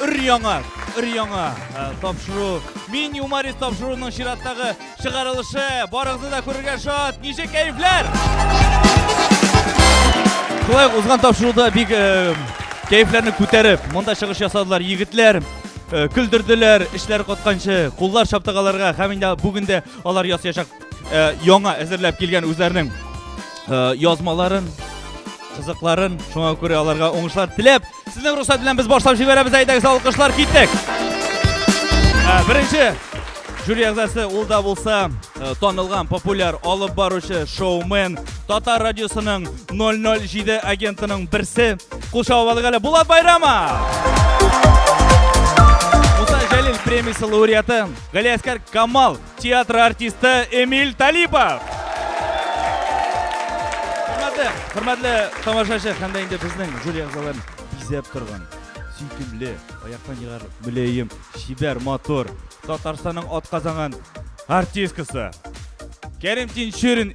Өр-яңа, өр-яңа э, тапшыру. Мин юморис тапшыруының чираттагы чыгарылышы. Барыгызны да күрергә шат. Ничек кәефләр? Шулай узган тапшыруда бик э, кәефләрне күтәреп, монда чыгыш ясадылар егетләр. Э, көлдерделәр, эшләр котканчы, куллар шаптагаларга һәм инде бүген дә алар ясыячак э, яңа әзерләп килгән үзләренең э, язмаларын, кызыкларын, шуңа күрә аларга уңышлар теләп, Сезнең рөхсәт белән без башлап җибәрәбез, әйдәгез, алкышлар, киттек! Ә, Беренче жюри әгъзасы ул да булса э, танылган популяр алып баручы шоумен Татар радиосының 007 агентының берсе. Кул чабып алдык әле Булат Байрамов! Муса Җәлил премиясе лауреаты Галиәскәр Камал Театр артисты Эмиль Талипов. Хөрмәтле, хөрмәтле тамашачы һәм дә инде безнең жюри әгъзаларын бизәп торган сөйкемле, аяктан егар мөләем, чибәр, матур Татарстанның атказанган артисткасы Кәрим Тинчурин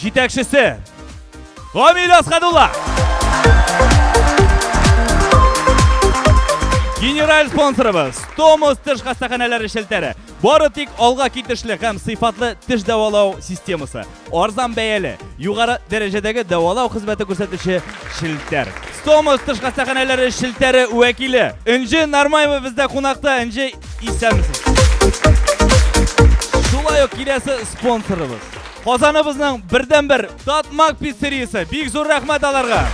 Җитәкчесе Камил Асхадулла. Генераль спонсорыбыз Томос теш хастаханәләре шелтәре. Бары тик алга китешле һәм сыйфатлы теш дәвалау системасы. Арзан бәяле, югары дәрәҗәдәге дәвалау хезмәте күрсәтүче шелтәр. Томос теш хастаханәләре шелтәре вәкиле Энҗе Нармаева бездә кунакта. Энҗе, исәнмесез. Шулай ук киләсе спонсорыбыз. Казаныбызның бердәнбер Татмак пиццериясе. Бик зур рәхмәт аларга.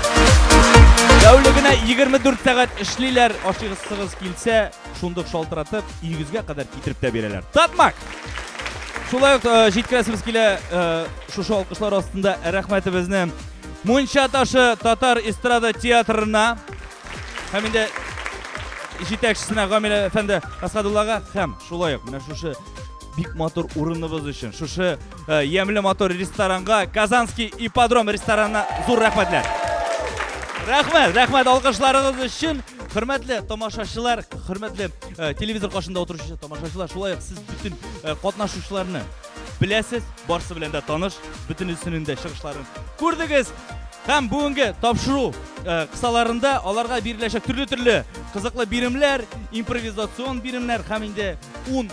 Тәүлегенә 24 сәгать эшлиләр. Ашыгысыгыз килсә, шундук шалтыратып, өегезгә кадәр китереп тә бирәләр. Татмак! Шулай ук э, җиткерәсебез килә э, шушы алкышлар астында рәхмәтебезне Мунча ташы татар эстрада театрына һәм инде җитәкчесенә Гамилә әфәнде Асадуллага һәм шулай ук менә шушы бик матур урыныбыз өчен шушы э, ямьле матур ресторанга казанский ипподром ресторанына зур рәхмәтләр рәхмәт рәхмәт алкышларыгыз өчен хөрмәтле тамашачылар хөрмәтле э, телевизор каршында отыручы тамашачылар шулай ук сез бөтен э, катнашучыларны беләсез барсы белән дә таныш бөтенесенең дә чыгышларын күрдегез һәм бүгенге тапшыру э, кысаларында аларга биреләчәк төрле төрле кызыклы биремләр импровизацион биремнәр һәм инде ун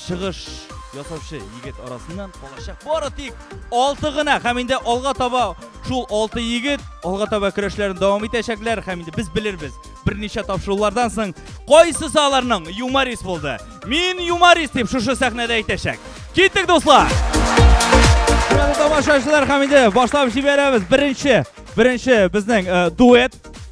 чыгыш ясаучы егет арасыннан калачак бары тик алты гына һәм инде алга таба шул алты егет алга таба көрәшләрен дәвам итәчәкләр һәм инде без белербез берничә тапшырулардан соң кайсысы аларның юморист булды мин юморист дип шушы сәхнәдә әйтәчәк киттек дуслар Хөрмәтле тамашачылар һәм инде башлап җибәрәбез. Беренче, беренче безнең э, дуэт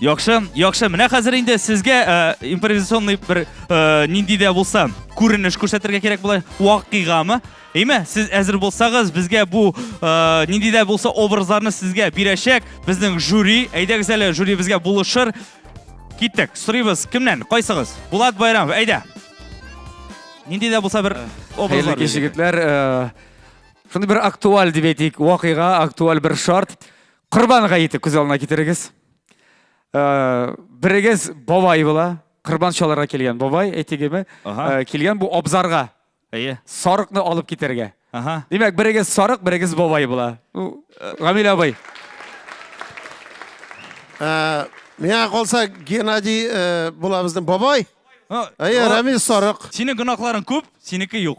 Яхшы, яхшы. Менә хәзер инде сезгә э, импровизационный бер э, нинди дә булса күренеш күрсәтергә кирәк була. Вакыйгамы? Әйме, сез әзер булсагыз, безгә бу э, нинди дә булса образларны сезгә бирәчәк. Безнең жюри, әйдәгез әле, жюри безгә булышыр. Киттек. Сорыйбыз, кемнән? Кайсыгыз? Булат Байрамов, әйдә. Нинди дә булса бер образлар. Хәерле кич, Шундый бер актуаль дип әйтик, вакыйга, актуаль бер шарт. Корбан гаете күз алдына китерегез. Э, Берегез бабай була, корбан чаларга килгән бабай, әйтегеме, Ага. э, килгән бу абзарга Әйе. сарыкны алып китәргә. Ага. Димәк, берегез сарык, берегез бабай була. Ну, э, Гамил абый, Ә, Миңа калса Геннадий э, була безнең бабай. Ну, Әйе, о, Рамил Сарык. Синең гөнаһларың күп, синеке юк.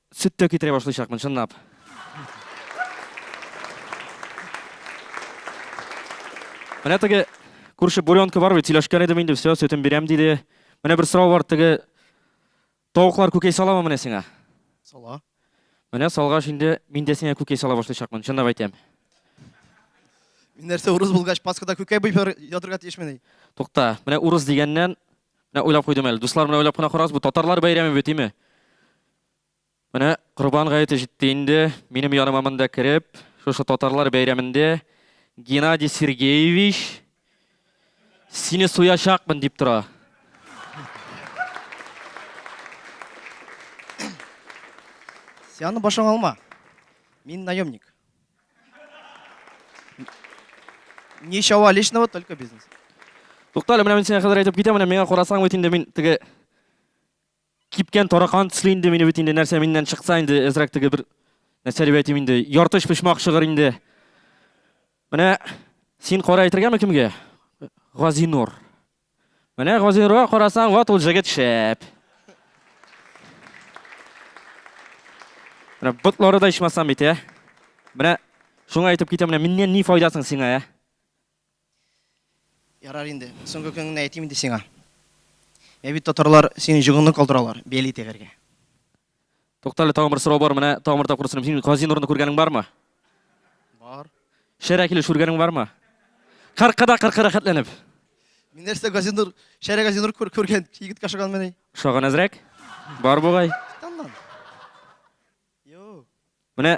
Сөт тә китерә башлыйчакмын, чынлап. Менә теге күрше буренка бар бит, сөйләшкән идем инде, все, сөтен бирәм диде. Менә бер сорау бар, теге тавыклар күкәй саламы менә сиңа? Сала. Менә салгач инде мин дә сиңа күкәй сала башлыйчакмын, чынлап әйтәм. Мин нәрсә, урыс булгач, Пасхада күкәй буеп ятырга тиешмени? Тукта, менә урыс дигәннән, Менә уйлап куйдым әле. Дуслар, менә уйлап кына карагыз, бу татарлар бәйрәме бит, име? Менә Корбан гаете җитте инде. Минем яныма монда кереп, шушы татарлар бәйрәмендә Геннадий Сергеевич сине суячакмын дип тора. Сианы башың алма. Мин наемник. Ничего личного, только бизнес. Тукта әле, менә мин сиңа хәзер әйтеп китәм, менә миңа карасаң бит инде мин теге кипкән таракан төсле инде мине бит инде нәрсә миннән чыкса инде әзрәк теге бер нәрсә дип әйтим инде, яртыш почмак чыгыр инде. Менә син кара әйтергәме кемгә? Газинур. Менә Газинурга карасаң, ват ул җегет шәп. Менә ботлары да ичмасам бит, ә? Менә шуңа әйтеп китәм, менә миннән ни файдасың сиңа, ә? Ярар инде, соңгы көнеңне әйтим инде сиңа. Ә бит татарлар синең җогыңны калдыралар, бәли тәгәргә. Туктале, тагын бер сорау бар, менә тагын бер тапкыр сорыйм. Син Гази Нурны күргәнең бармы? Бар. Шәрә килеш күргәнең бармы? Кыркыда кыркы рәхәтләнеп. Мин нәрсә Гази Нур, Шәрә Гази Нур күргән, егеткә ошаган мени. Ошаган әзрәк? Бар бугай. Менә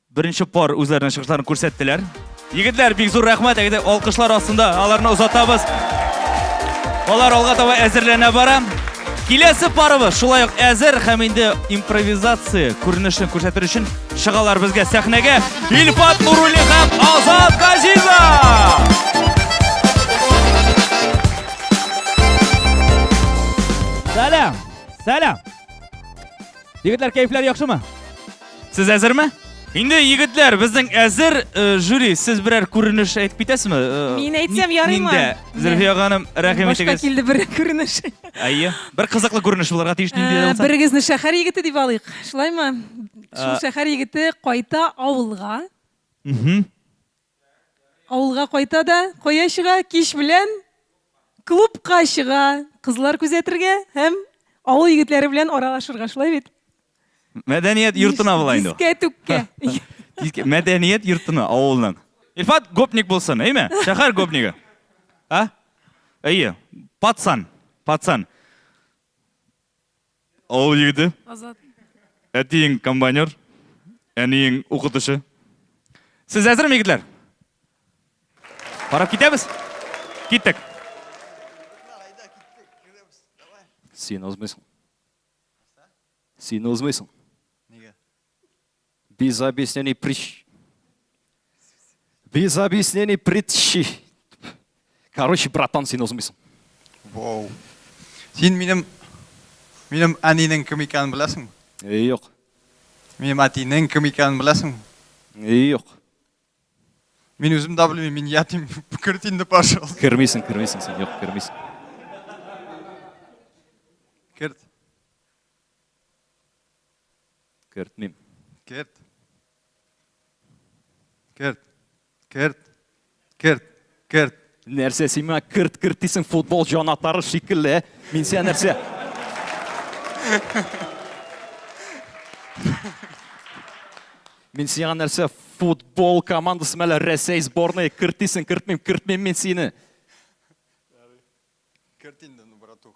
Беренче пар үзләренең чыгышларын күрсәттеләр. Егетләр, бик зур рәхмәт, әйдә алкышлар астында аларны озатабыз. Алар алга таба әзерләнә бара. Киләсе парыбыз шулай ук әзер һәм инде импровизация күренешен күрсәтер өчен чыгалар безгә сәхнәгә Илфат Нурулли һәм Азат Газизов! Сәлам! Сәлам! Егетләр, кәефләр яхшымы? Сез әзерме? Инде егетләр, безнең әзер э, жюри, сез берәр күренеш әйтеп китәсезме? Э, Мин әйтсәм ни- ярыймы? Нинди? Зөлфия ханым, рәхим Башка итегез. килде бер күренеш. Әйе. Бер кызыклы күренеш булырга тиеш нинди дә Ә, булса. Берегезне шәһәр егете дип алыйк. Шулаймы? Шул Ә. шәһәр егете кайта авылга. Мгм. Авылга кайта да кая чыга? Кич белән клубка чыга, кызлар күзәтергә һәм авыл егетләре белән аралашырга, шулай бит? Мәдәният йортына була инде ул. Дискә-түккә. Диске- Мәдәният йортына, авылның. Илфат гопник булсын, әйме? Шәһәр гопнигы. А? Әйе. Пацан. Пацан. Авыл егете. Азат. Әтиең комбайнер, әниең укытучы. Сез әзерме, егетләр? Карап китәбез? Киттек. Син узмыйсың. Син узмыйсың. Без объяснений прич. Без объяснений притчи. Короче, братан, син узмыйсың. Вау. Син минем минем әнинең кем икәнен беләсеңме? Э, юк. Минем әтинең кем икәнен беләсеңме? Э, юк. Мин үзем дә белмим, мин ятим. Керт инде, пожалуйста. Кермисең, кермисең син, юк, кермисең. Керт. Кертмим. Керт. Керт. Керт. Керт. Керт. Нәрсә син миңа керт керт дисең футбол җанатары шикелле? Мин сиңа нәрсә? Мин сиңа нәрсә футбол командасы мәле Рәсәй сборная кертисең, кертмим, кертмим мин сине. Керт инде, ну, братух.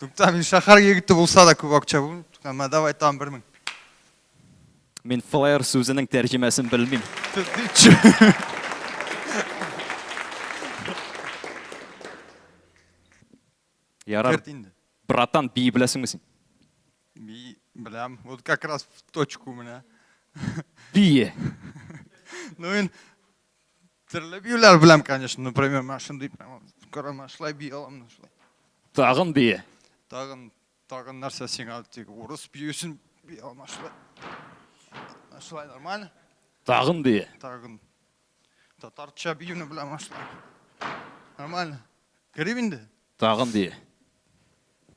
Туктам, мин шәһәр егете булса да күп акча бу. Туктам, мә давай там 1000. Мин флеер сүзенең тәрҗемәсен белмим. Ярар. Братан, би беләсеңме син? Би беләм. Вот как раз в точку менә. Бие. Ну, ин Төрле биюләр беләм, конечно. Например, мен шундый прямо карама шулай бии аламын шулай. Тагын бии. Тагын тагын нәрсә сиңа тик урыс биюсен бии аламын шулай. Шулай нормально. Тагын бии. Тагын. Татарча биюне беләм шулай. Нормально. Керим инде. Тагын бии.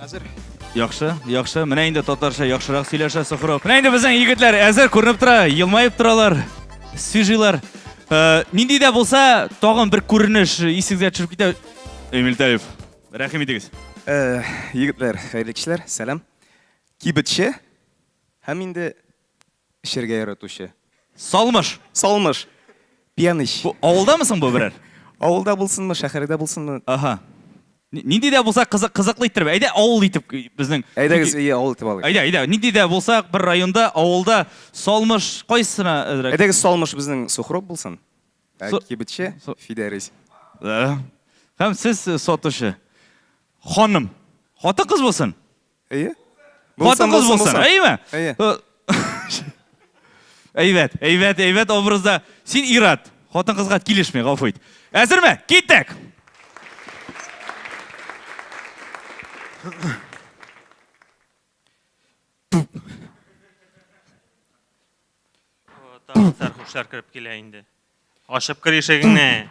Әзер. Яхшы, яхшы. Менә инде татарча яхшырак сөйләшә Сухров. Менә инде безнең егетләр әзер күренеп тора, елмаеп торалар, сөжилар. Э, нинди дә булса, тагын бер күренеш исегезгә төшеп китә. Эмиль Талев, рәхим итегез. Э, егетләр, хәерле кичләр, сәлам. Кибетче һәм инде Эчәргә яратучы. Салмыш! Салмыш! Пьяныч! Бу авылдамы соң бу берәр? Авылда булсынмы, шәһәрдә булсынмы. Аһа. Нинди дә булса кызык, кызыклы иттереп. Әйдә, авыл итеп безнең. Әйдәгез, әйе, авыл итеп алыйк. Әйдә, әйдә, нинди дә булса бер районда, авылда Салмыш кайсына әзрәк? Әйдәгез, Салмыш безнең Сухроб булсын. Ә кибетче, Фидәрис. Һәм сез сатучы. Ханым. Хатын-кыз булсын? Әйе? Хатын кыз булсын, әйеме? Әйе. Әйбәт, әйбәт, әйбәт образда. Син ират, хатын кызга килешми, гафу ит. Әзерме? Киттек! Тагын сәрхушлар кереп килә инде. Ашып кер ишегеңне.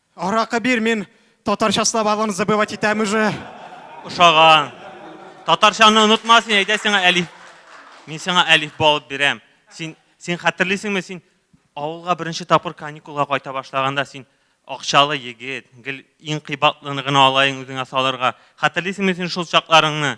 Аракы бир, мин татарча словарларны забывать итәм уже. Ошаган. Татарчаны онытма син, әйдә сиңа әлиф. Мин сиңа әлиф алып бирәм. Син син хәтерлисеңме, син авылга беренче тапкыр каникулга кайта башлаганда син акчалы егет, гел иң кыйбатлыны гына алайын үзеңә салырга. Хәтерлисеңме син шул чакларыңны?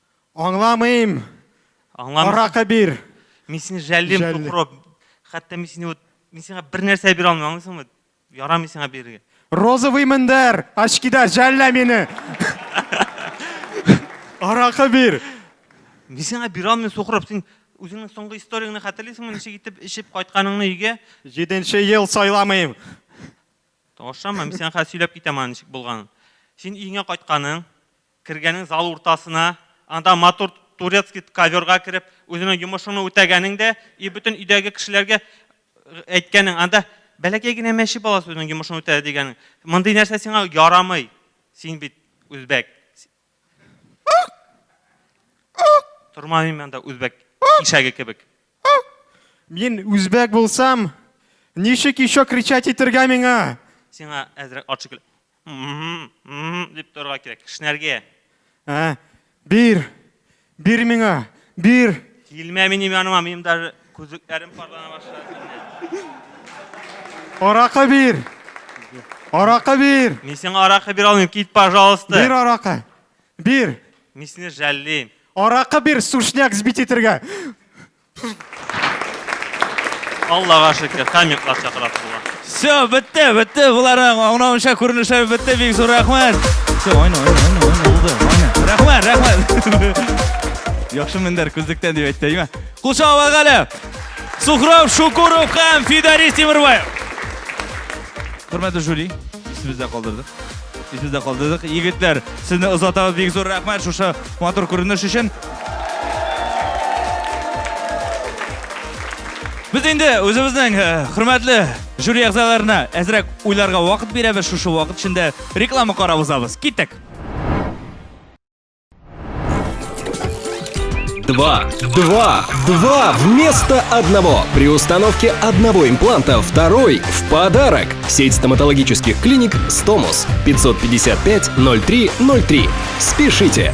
Аңламыйм! Аңламыйсың? Аракы бир! Мин сине жәллим, Жәлли. тукро. Хәтта мин сине вот, мин сиңа бер нәрсә бирә алмыйм, аңлыйсыңмы? Ярамый сиңа бирергә. Розовый мендәр, очкида, жәллә мине! Аракы бир! Мин сиңа бирә алмыйм, сукроб. Син үзеңнең соңгы историеңне хәтерлисеңме, ничек итеп эчеп кайтканыңны өйгә? Җиденче ел сайламыйм! Ошамы? Мин сиңа хәзер сөйләп китәм аның ничек булганын. Син өеңә кайтканың, Кергәнең зал уртасына, анда матур турецкий коверга кереп, үзенең йомышыңны үтәгәнең дә, и бөтен өйдәге кешеләргә әйткәнең, анда бәләкәй генә мәче баласы үзенең йомышын үтәде дигәнең. Мондый нәрсә сиңа ярамый. Син бит үзбәк. Тормамыйм анда үзбәк ишәге кебек. Мин үзбәк булсам, ничек ещё кричать итергә миңа? Сиңа әзрәк ат шикелле. Дип торырга кирәк. Кешнәргә. Ә, бир. Бир миңа. Бир. Килмә минем яныма, минем даже күзлекләрем парлана башлады. Аракы бир. Аракы бир. Мин сиңа аракы бир алмыйм, кит, пожалуйста. Бир аракы. Бир. Мин сине жәллим. Аракы бир, сушняк сбить итергә. Аллага шөкер, комментлар чакырасы була. Все, бетте, бетте буларың. Аңлавымча күренешләр бетте, бик зур рәхмәт. Все, айна, айна, айна, айна, булды, айна. Рәхмәт, рәхмәт. Яхшы мендәр күздектән дип әйтте, әйме? Кул чаба әле. Сухров Шукуров һәм Фидарис Тимербаев. Хөрмәтле жюри, исебездә калдырдык. Исебездә калдырдык. Егетләр, сезне озатабыз бик зур рәхмәт шушы матур күренеш өчен. Без инде үзебезнең э, хөрмәтле жюри әгъзаларына әзрәк уйларга вакыт бирәбез. Шушы вакыт эчендә реклама карап узабыз. Киттек. Два, два, два вместо одного. При установке одного импланта второй в подарок. Сеть стоматологических клиник «Стомус» 555 0303. Спешите!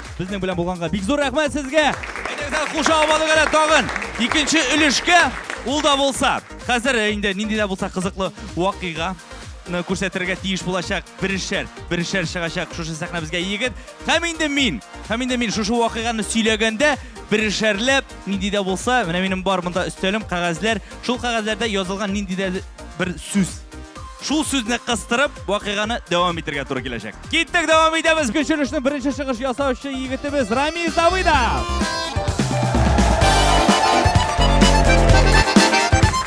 Безнең белән булганга бик зур рәхмәт сезгә. Әйдәгез, куша алмадык әле тагын. Икенче өлешкә ул да булса. Хәзер э, инде нинди дә булса кызыклы вакыйга күрсәтергә тиеш булачак берешәр, берешәр чыгачак шушы сәхнәбезгә егет. Һәм инде мин, һәм инде мин шушы вакыйганы сөйләгәндә берешәрләп нинди дә булса, менә минем бар монда өстәлем, кәгазьләр. Шул кәгазьләрдә язылган нинди дә бер сүз. Шул сүзне кыстырып, вакыйганы дәвам итәргә туры киләчәк. Киттек, дәвам итәбез. Күчерешнең беренче чыгыш ясаучы егетебез Рамиз Давыдов.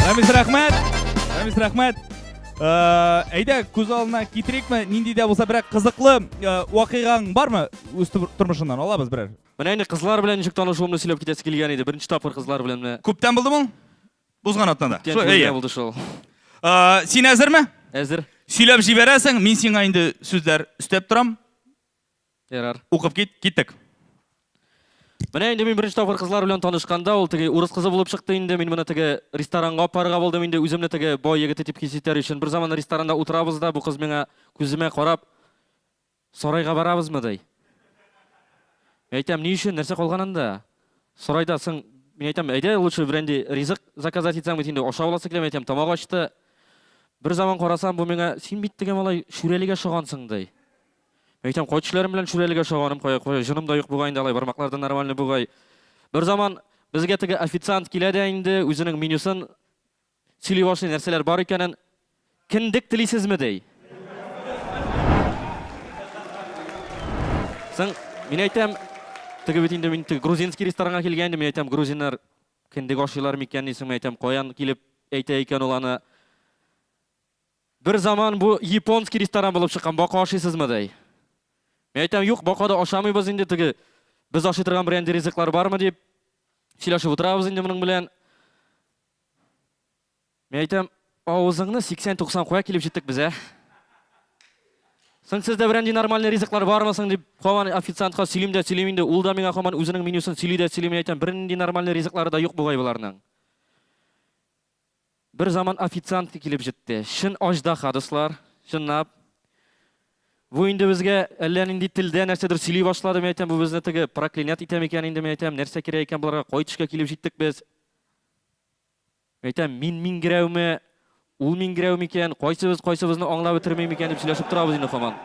Рамиз рәхмәт. Рамиз рәхмәт. Э, әйдә, күз алдына китерикме? Нинди дә булса берәр кызыклы э, вакыйгаң бармы? Үз тормышыңнан алабыз берәр. Менә инде кызлар белән ничек танышуымны сөйләп китәсе килгән иде. Беренче тапкыр кызлар белән менә. Күптән булды бу? Узган атнада. Күптән түгел булды шул. Син әзерме? Әзер. Сөйләп җибәрәсең, мин сиңа инде сүзләр өстәп торам. Ярар. Укып кит, киттек. Менә инде мин беренче тапкыр кызлар белән танышканда, ул теге урыс кызы булып чыкты инде. Мин моны теге ресторанга апарырга булдым инде, үземне теге бай егете дип хис итәр өчен. Бер заман ресторанда утырабыз да, бу кыз миңа күземә карап, Сарайга барабызмы, ди. Мин әйтәм, ни өчен, нәрсә калган анда? Сарайда соң, мин әйтәм, әйдә лучше бренди ризык заказать итсәң бит инде, ашап аласы килә, мин әйтәм, тамак ачты. Бер заман карасам, бу миңа, син бит теге малай Шүрәлегә ошагансың, ди. Мин әйтәм, кай төшләрем белән Шүрәлегә ошаганым, кая, кая, җыным да юк бугай инде, алай бармаклар да нормальный бугай. Бер заман безгә теге официант килә дә инде, үзенең менюсын Сөйли башлый, нәрсәләр бар икәнен. Кендек телисезме, ди. Соң, мин әйтәм, теге бит инде мин теге грузинский ресторанга килгән идем, мин әйтәм, грузиннар кендек ашыйлар микән дисең, мин әйтәм, каян килеп әйтә икән ул аны. Бер заман бу японский ресторан булып чыккан, бака ашыйсызмы, ди. Мин әйтәм, юк, бака да ашамыйбыз инде, теге без ашый торган берәндә ризыклар бармы, дип сөйләшеп утырабыз инде моның белән. Мин әйтәм, авызыңны 80-90 куя килеп җиттек без, ә? Соң сездә берәр нинди нормальный ризыклар бармы соң дип, һаман официантка сөйлим дә сөйлим инде, ул да миңа һаман үзенең менюсын сөйли дә сөйли, мин әйтәм, бернинди нормальный ризыклары да юк бугай боларның. Бер заман официантка килеп җитте. Чын аждаһа, дуслар, чынлап. Бу инде безгә әллә нинди телдә нәрсәдер сөйли башлады, мин әйтәм, бу безне теге проклинять итә микән инде, мин әйтәм, нәрсә кирәк икән боларга, кай төшкә килеп җиттек без? Әйтәм, мин миңгерәүме, ул миңгерәү микән, кайсыбыз кайсыбызны аңлап бетерми микән дип сөйләшеп торабыз инде хаман.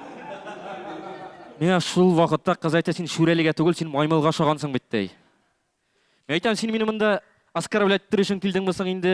Менә шул вакытта кыз әйтә, син шүрәлегә түгел, син маймылга ошагансың бит, ди. Мин әйтәм, син мине монда оскорблять итер өчен килдеңме соң инде?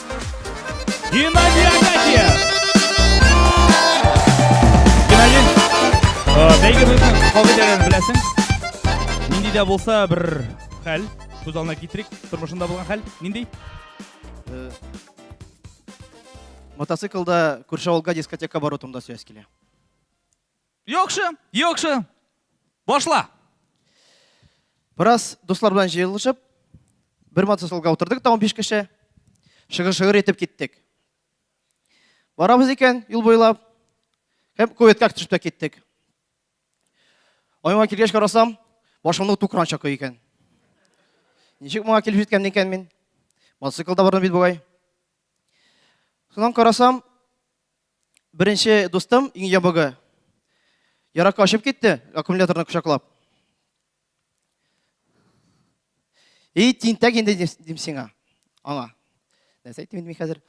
Геннадий Агатьев! Геннадий, бәйге бүген кагыйдәләрен беләсең. Нинди дә булса бер хәл, күз алдына китерик, тормышында булган хәл, нинди? Э, мотоциклда күрше авылга дискотека бару турында сөйләс килә. Яхшы, яхшы. Башла. Бераз дуслар белән җыелышып, бер мотоциклга утырдык та 15 кеше. Шыгыр-шыгыр итеп киттек. Барабыз икән юл буйлап. Һәм куеткә төшеп тә киттек. Айман килгәч карасам, башымны тукран чакы икән. Ничек моңа килеп җиткән икән мин? Мотоциклда бардым бит бугай. Сонан карасам, Беренче дустым, иң ябыгы, яракка очып китте, аккумуляторны кочаклап. И, тинтәк инде дим сиңа, аңа. Нәрсә әйтим инде мин хәзер?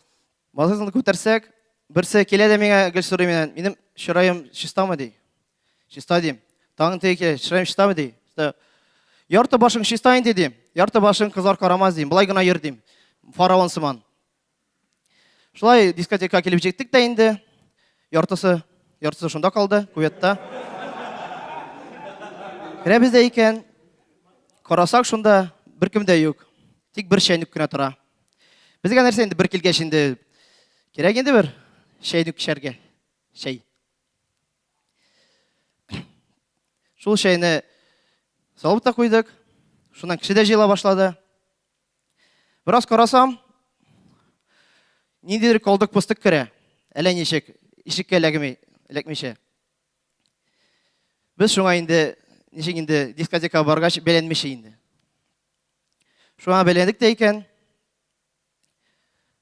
Малайны күтәрсәк, берсе килә дә миңа гел сорый миннән, минем чыраем чистамы ди. Чиста дим. Тагын теге килә, чыраем чистамы ди. Ярты башың чиста инде дим. Ярты башың кызлар карамас дим. Былай гына йөр дим. Фараон сыман. Шулай дискотека килеп җиттек тә инде. Яртысы, яртысы шунда калды, куветта. Керәбез дә икән. Карасак шунда беркем дә юк. Тик бер чәйнек кенә тора. Безгә нәрсә инде бер килгәч инде кирәк инде бер чәйнек эчәргә. Чәй. Шул чәйне салып та куйдык. Шуннан кеше дә җыела башлады. Бераз карасам, ниндидер калдык пустык керә. Әллә ничек, ишеккә эләгми, эләкмичә. Без шуңа инде, ничек инде дискотека баргач, бәйләнмичә инде. Шуңа бәйләндек тә икән.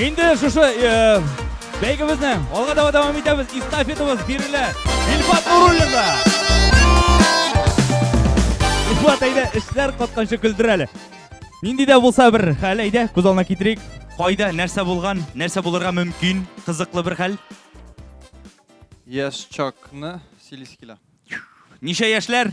Инде шушы бәйгебезне алга таба дәвам итәбез. Эстафетабыз бирелә. Илфат Нуруллинга. Илфат әйдә, эшләр катканчы көлдер әле. Нинди дә булса бер хәл әйдә, күз алдына китерик. Кайда, нәрсә булган, нәрсә булырга мөмкин, кызыклы бер хәл. Яшь чакны Силискилә. Ничә яшьләр?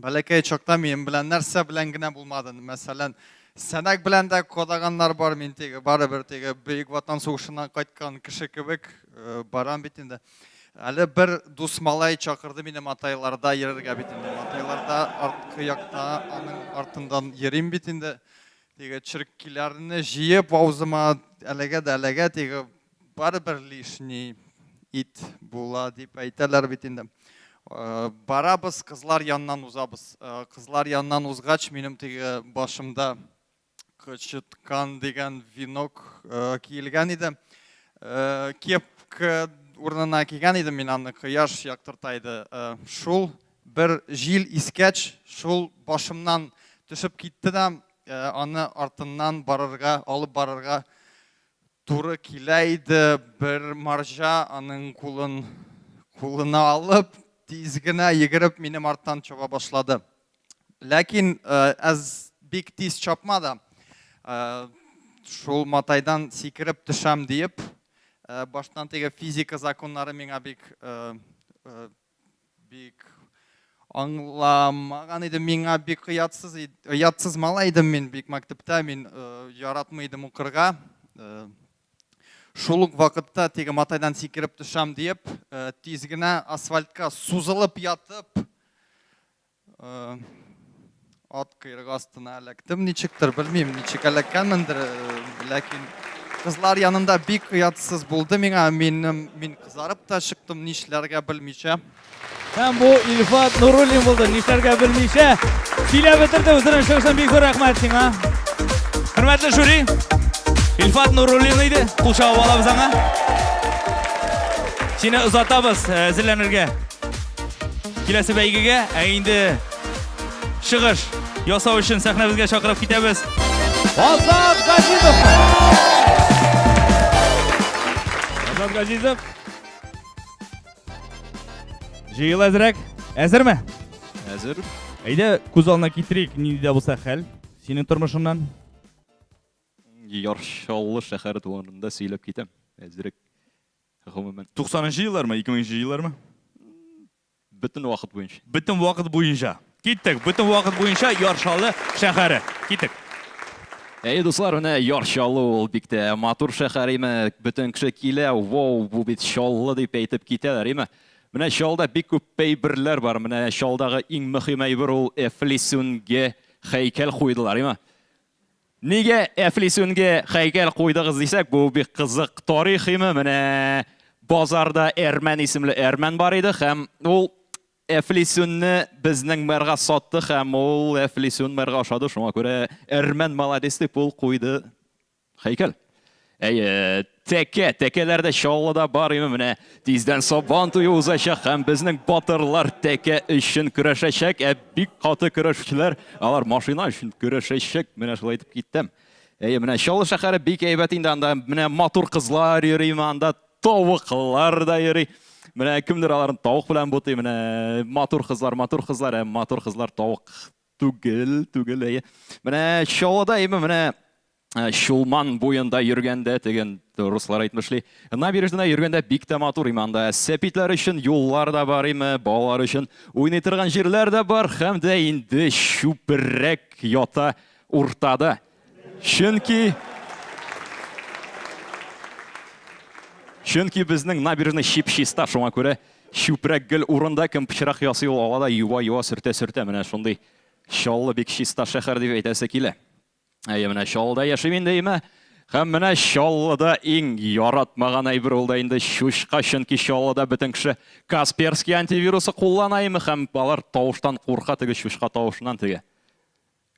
Бәләкәй чакта минем белән нәрсә белән генә булмады. Мәсәлән, сәнәк белән дә кадагыннар бар, мин теге барыбер теге Бөек Ватан сугышыннан кайткан кеше кебек э, барам бит инде. Әле бер дус малай чакырды мине матайларда йөрергә бит инде. Матайларда арткы якта аның артыннан йөрим бит инде. Теге черкиләрне җыеп аузыма әлегә дә әлегә теге Барыбер лишний ит була дип әйтәләр бит инде. Э, барабыз, кызлар яннан узабыз. Э, кызлар яннан узгач, минем теге башымда кычыткан дигән венок э, киелгән иде. Кепка урынына кигән идем мин аны, кояш яктырта иде. Шул бер җил искәч, шул башымнан төшеп китте дә, аны артыннан барырга, алып барырга Туры килә иде, бер марҗа аның кулын кулына алып, тиз генә йөгереп минем арттан чаба башлады. Ләкин әз бик тиз чапмады. Шул матайдан сикереп төшәм диеп, баштан теге физика законнары миңа бик Бик аңламаган идем, миңа бик оятсыз, оятсыз малай идем мин, бик мәктәптә мин э, яратмый идем укырга. Э, шул ук вакытта теге матайдан сикереп төшәм диеп, э, тиз генә асфальтка сузылып ятып, Ат кыйрыгы астына эләктем ничектер, белмим, ничек эләккәнмендер, ләкин кызлар янында бик оятсыз булды миңа, минем, мин кызарып та чыктым, нишләргә белмичә. Һәм бу Илфат Нуруллин булды, нишләргә белмичә. Сөйләп бетерде үзенең чыгышын, бик зур рәхмәт сиңа. Хөрмәтле жюри, Илфат Нуруллин иде, кул чагып алабыз аңа. Сине озатабыз әзерләнергә. Киләсе бәйгегә, ә инде чыгыш ясау өчен сәхнәбезгә чакырып китәбез. Азат Газизов! Азат Газизов! Җыел әзрәк. Әзерме? Әзер. Әйдә, күз алдына китерик, нинди дә булса хәл синең тормышыңнан. Яршаллы шәһәре турында сөйләп китәм. Әзрәк. Гомумән. Туксанынчы еллармы, ике меңенче еллармы? Бөтен вакыт буенча. Бөтен вакыт буенча. Киттек, бөтен вакыт буенча Яршалы шәһәре. Киттек. Әйе, дуслар, менә Яр Чаллы ул бик тә матур шәһәр име. Бөтен кеше килә, вау, бу бит Чаллы дип әйтеп китәләр име. Менә Чаллыда бик күп әйберләр бар. Менә Чаллыдагы иң мөһим әйбер ул Эфлисүнге һәйкәл куйдылар име. Нигә Әфлисүнгә һәйкәл куйдыгыз дисәк, бу бик кызык тарихимы, менә базарда Әрмән исемле әрмән бар иде һәм ул Әфлисүнне безнең мэрга сатты һәм ул Әфлисүн мэрга ошады, шуңа күрә әрмән молодец дип ул куйды һәйкәл. Әйе, тәкә, тәкәләр дә Чаллыда бар име менә. Тиздән Сабан туе узачак һәм безнең батырлар тәкә өчен көрәшәчәк, ә бик каты көрәшүчеләр, алар машина өчен көрәшәчәк, менә шулай итеп киттем. Әйе, менә Чаллы шәһәре бик әйбәт инде, анда менә матур кызлар йөри, анда тавыклар да йөри. Менә кемдер аларын тавык белән бутый, менә матур кызлар, матур кызлар, ә матур кызлар тавык түгел, түгел, әйе. Менә Чаллыда име, менә Э, Чулман буенда йөргәндә деген руслар әйтмешли. Набережныйда йөргәндә бик тә матур иманда. Сәпитләр өчен юллар да бар име, балалар өчен уйный торган җирләр дә бар һәм дә инде чүперрәк ята уртада. Чөнки Чөнки безнең набережный чип-чиста, шуңа күрә чүпрәк гел урында кем пычрак ясый ул ала да юа-юа сөртә-сөртә менә шундый чаллы бик чиста шәһәр дип әйтәсе килә. Әйе, менә Чаллыда яшим инде, әйме? Һәм менә Чаллыда иң яратмаган әйбер ул да инде чучка, чөнки Чаллыда бөтен кеше Касперский антивирусы куллана име һәм алар тавыштан курка теге чучка тавышыннан теге.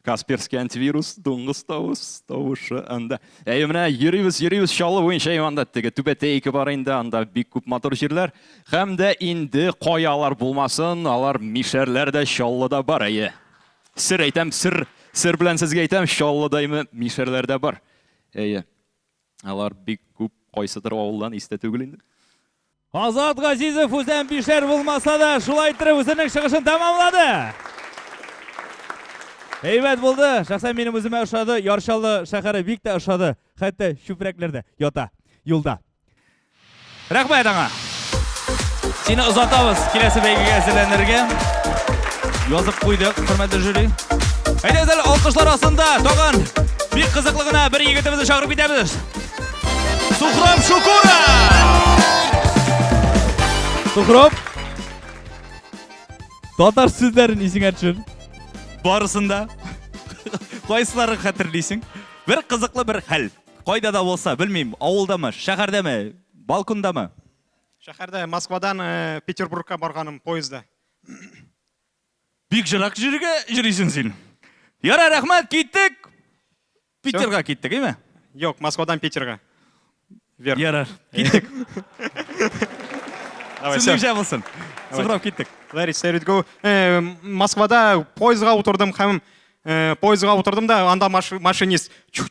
Касперский антивирус, дуңгыз тавыш, тавышы анда. Әйе, менә йөрибез, йөрибез Чаллы буенча анда теге түбәтәйке бар инде, анда бик күп матур җирләр. Һәм дә инде каялар булмасын, алар мишәрләр дә Чаллыда бар, әйе. Сер әйтәм, сер, сер белән сезгә әйтәм, Чаллыдаймы мишәрләр дә бар. Әйе. Алар бик күп кайсыдыр авылдан истә түгел инде. Азат Газизов үзен бишәр булмаса да, шулай иттереп үзенең чыгышын тәмамлады. Әйбәт булды. Шәхсән минем үземә ошады. Ярчаллы шәһәре бик тә ошады. Хәтта чүпрәкләрдә ята юлда. Рәхмәт аңа. Сине озатабыз киләсе бәйгегә әзерләнергә. Язып куйдык, хөрмәтле жюри. Әйдәгез әле алкышлар астында тагын бик кызыклы гына бер егетебезне чакырып китәбез. Сухрам Шукура! Сухрам! Татар сүзләрен исеңә төшер. Барысында. Кайсыларын хәтерлисең? Бер кызыклы бер хәл. Кайда да булса, белмим, авылдамы, шәһәрдәме, балкондамы? Шәһәрдә, Москвадан э, Петербургка барганым поездда. Бик жырак җиргә җөрисен син. Яра, рәхмәт, киттек. Питерга киттек, име? Юк, Москвадан Питерга. Вер. Яра, киттек. Давай, Син җә булсын. Сухрап киттек. Ларис, Сәридгу. Э, Москвада поездга утырдым һәм Э, поездга утырдым да анда машинист пип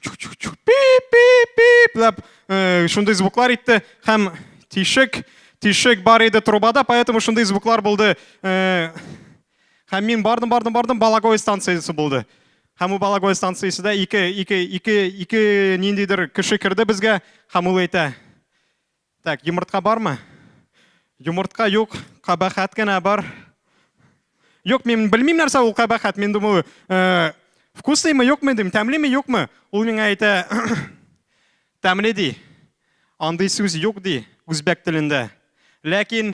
пип пип деп э, шундый звуклар итте һәм тишек тишек бар иде трубада поэтому шундый звуклар булды э, һәм мин бардым бардым бардым балагой станциясе булды һәм ул балагой станциясе дә ике ике ике ике ниндидер кеше керде безгә һәм ул әйтә Так, йомыртка бармы? Йомыртка юк, кабахәт кенә бар. Юк, мин белмим нәрсә ул кабахәт. Мин думаю, э, вкуслыймы, юкмы дим, тәмлеме, юкмы? Ул миңа әйтә, тәмле ди. Андый сүз юк ди үзбәк телендә. Ләкин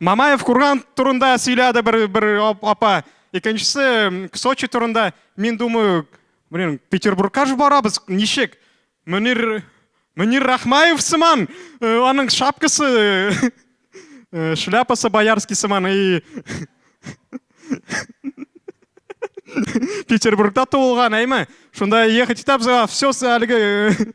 Мамаев курган турында сөйләде бер бер апа. Икенчесе Сочи турында. Мин думаю, блин, Петербургка ж барабыз, ничек? Мөнир Мөнир Рахмаев сыман, э, аның шапкасы, э, э, шляпасы боярский сыман и Петербургда туылган, әйме? Шунда ехать итәбез, все әлеге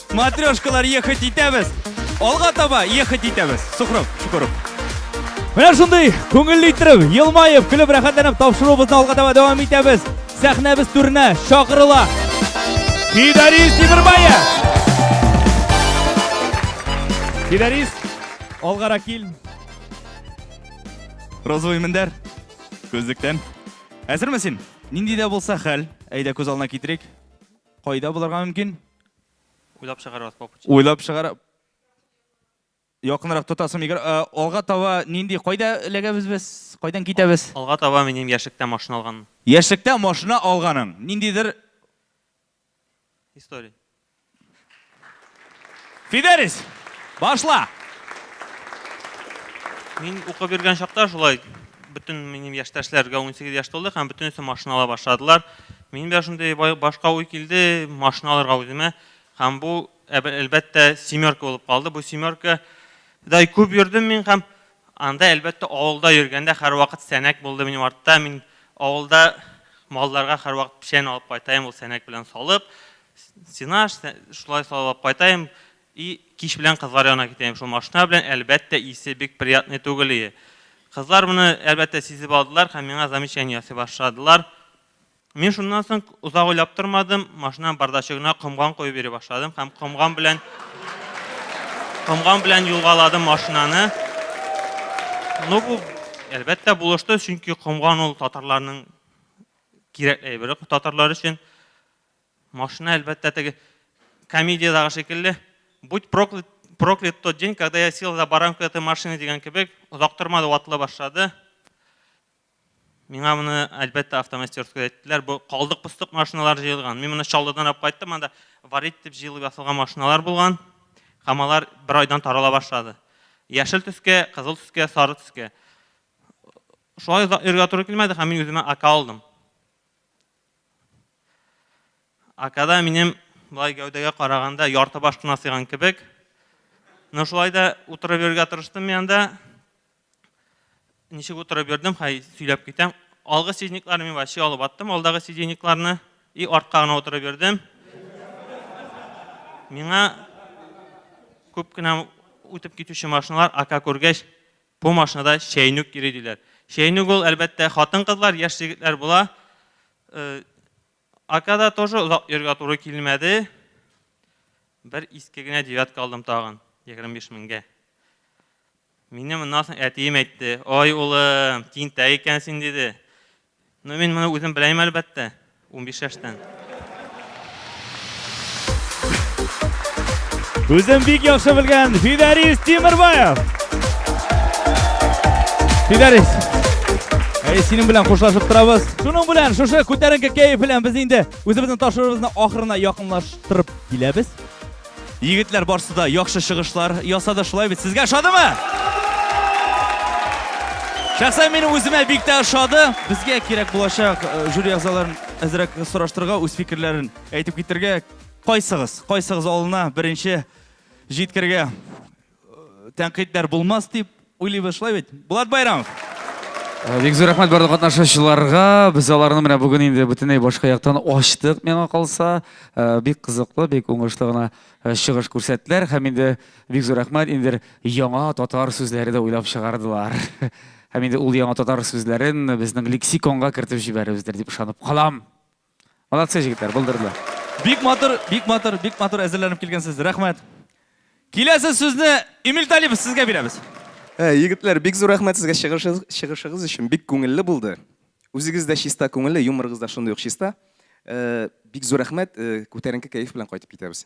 Матрешкалар ехать итәбез. Алга таба ехать итәбез. Сухров, Шукуров. Менә шундый күңелле иттереп, елмаеп, көлеп, рәхәтләнеп тапшыруыбызны алга таба дәвам итәбез. Сәхнәбез түренә чакырыла. Фидарис Тимербаев! Фидарис, алгара кил. Розовый мендәр. Күзлектән. Әзерме син? Нинди дә булса хәл, әйдә күз алдына китерик. Кайда булырга мөмкин? Уйлап чыгарабыз попуч. Уйлап чыгар. Якынрак тотасың микро. Э, алга таба нинди кайда эләгәбез без? Кайдан китәбез? Алга таба минем яшьлектә машина алган. Яшьлектә машина алганың. Ниндидер история. Фидерис, башла! Мин укып йөргән чакта шулай бөтен минем яшьтәшләргә 18 яшь тулды һәм бөтенесе машина ала башладылар. Минем дә шундый башка уй килде, машина алырга үземә. Һәм бу әлбәттә семерка булып калды. Бу семерка да күп йөрдем мин һәм Анда, әлбәттә, авылда йөргәндә һәрвакыт сәнәк булды минем артта. Мин авылда малларга һәрвакыт печән алып кайтаем, ул сәнәк белән салып, сенаж, шулай салып алып кайтаем. И кич белән кызлар янына китәем шул машина белән, әлбәттә, исе бик приятный түгел ие. Кызлар моны, әлбәттә, сизеп алдылар һәм миңа замечание ясый башладылар. Мин шуннан соң озак уйлап тормадым, машинаның бардачыгына комган куеп йөри башладым һәм комган белән комган белән юлгаладым машинаны. Ну бу әлбәттә булышты, чөнки комган ул татарларның кирәк әйбере татарлар өчен. Машина әлбәттә теге комедиядагы шикелле будь проклят, проклят тот день, когда я сел за баранку этой машины дигән кебек, озак тормады, ватыла башлады. Миңа моны, әлбәттә, автомастерскода әйттеләр. Бу калдык-постык машиналар җыелган. Мин моны Чаллыдан алып кайттым, анда варить дип җыелып ясалган машиналар булган. Һәм алар бер айдан тарала башлады. Яшел төскә, кызыл төскә, сары төскә. Шулай озак йөрергә туры килмәде һәм мин үземә АК алдым. АКда минем былай гәүдәгә караганда ярты баш кына сыйган кебек. Но шулай да утырып йөрергә тырыштым мин анда. Ничек утырып йөрдем, хай сөйләп китәм. Алгы сиденькларны мин вообще алып аттым, алдагы сиденькларны и артка гына утырып йөрдем. Миңа күп кенә үтеп китүче машиналар ака күргәч, бу машинада чәйнүк йөри диләр. Чәйнүк ул, әлбәттә, хатын-кызлар, яшь егетләр була. Э, Акада тоже озак йөргә туры килмәде. Бер иске генә девятка алдым тагын, 25 меңгә. Мине моннан соң әтием әйтте. Ай, улым, тинтәк икән син, диде. Ну, мин моны үзем беләем, әлбәттә, унбиш яшьтән. Үзен бик яхшы белгән Фидарис Тимербаев. Фидарис, Әй, синең белән хушлашып торабыз. Шуның белән шушы күтәренке кәеф белән без инде үзебезнең ташырыбызны ахырына якынлаштырып киләбез. Егетләр барсы да яхшы чыгышлар ясады, шулай бит? Сезгә ошадымы? Шәхсән минем үземә бик тә ошады. Безгә кирәк булачак э, жюри әгъзаларын әзрәк сораштырырга, үз фикерләрен әйтеп китергә. Кайсыгыз, кайсыгыз алына беренче җиткергә тәнкыйтьләр булмас дип уйлыйбыз, шулай бит? Булат Байрамов. Э, бик зур рәхмәт барлык катнашучыларга. Без аларны менә бүген инде бөтенләй башка яктан ачтык, миңа калса. Э, бик кызыклы, бик уңышлы гына э, чыгыш күрсәттеләр һәм инде бик зур рәхмәт инде яңа татар сүзләре дә уйлап чыгардылар. Һәм инде ул яңа татар сүзләрен безнең лексиконга кертеп җибәрербездер дип ышанып калам. Молодцы, җегетләр, булдырдылар. Бик матур, бик матур, бик матур әзерләнеп килгәнсез. Рәхмәт. Киләсе сүзне Эмиль Талипов сезгә бирәбез. Ә, егетләр, бик зур рәхмәт сезгә чыгышыгыз, чыгышыгыз өчен. Бик күңелле булды. Үзегез дә чиста күңелле, юморыгыз да шундый ук чиста. Ә, бик зур рәхмәт, ә, күтәренке кәеф белән кайтып китәбез.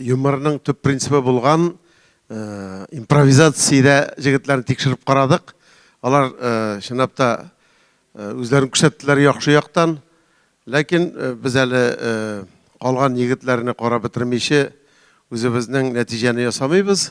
Юморның төп принцибы булган импровизациядә җегетләрне тикшереп карадык. Алар чынлап та үзләрен күрсәттеләр яхшы яктан. Ләкин без әле калган егетләрне карап бетермичә, үзебезнең нәтиҗәне ясамыйбыз.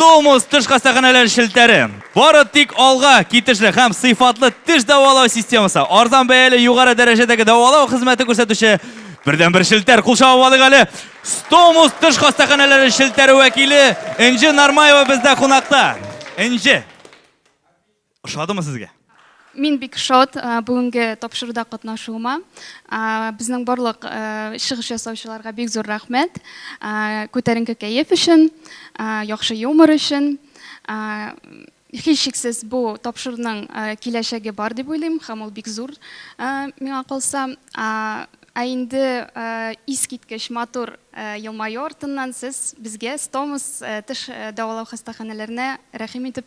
Стомус теш хастаханәләре челтәре. Бары тик алга китешле һәм сыйфатлы теш дәвалау системасы. Арзан бәяле югары дәрәҗәдәге дәвалау хезмәте күрсәтүче бердән бер челтәр. Кул чабып алыйк әле. Стомус теш хастаханәләре челтәре вәкиле Энҗе Нармаева бездә кунакта. Энҗе. Ошадымы сезгә? Мин бик шат бүгенге тапшыруда катнашуыма. Безнең барлык чыгыш ясаучыларга бик зур рәхмәт. Күтәренке кәеф өчен, яхшы юмор өчен. Һичшиксез бу тапшыруның киләчәге бар дип уйлыйм һәм ул бик зур миңа калса. Ә инде искиткеч матур елмаю артыннан сез безгә Стомус теш дәвалау хастаханәләренә рәхим итеп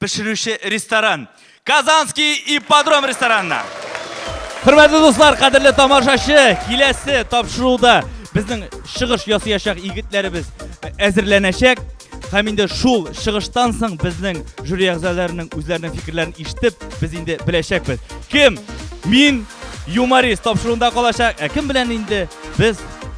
пешерүче ресторан, Казанский ипподром ресторанына. Хөрмәтле дуслар, кадерле тамашачы, киләсе тапшыруда безнең чыгыш ясыячак егетләребез әзерләнәчәк. Һәм инде шул чыгыштан соң безнең жюри әгъзаларының үзләренең фикерләрен ишетеп, без инде беләчәкбез. Кем? Мин юморист тапшыруында калачак. Ә кем белән инде без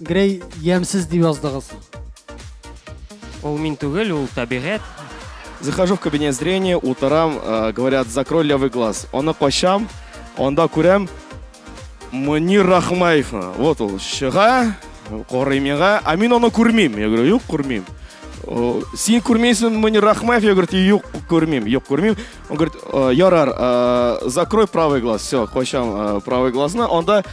Грей ямьсез дип яздыгыз. Ул мин түгел, ул табигать. Захожу в кабинет зрения, утырам, э, говорят, закрой левый глаз. Аны качам, анда күрәм Мөнир Рахмаев. Вот ул чыга, карый миңа, а мин аны күрмим. Я говорю, юк, күрмим. Син күрмейсең Мөнир Рахмаев? Я говорю, юк, күрмим, юк, күрмим. Он говорит, ярар, э, закрой правый глаз. Все, качам э, правый глазны. Анда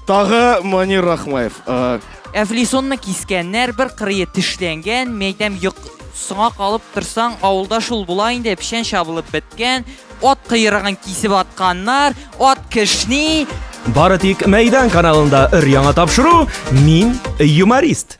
Тагы Манир Рахмаев. Э, Әфлисонны кискәннәр, бер кырые тешләнгән, мәйтәм йоқ соңа калып торсаң, авылда шул була инде, печән чабылып беткән, ат кыйрыгын кисеп атканнар, ат кешни. Бары тик Мәйдан каналында өр яңа тапшыру, мин юморист.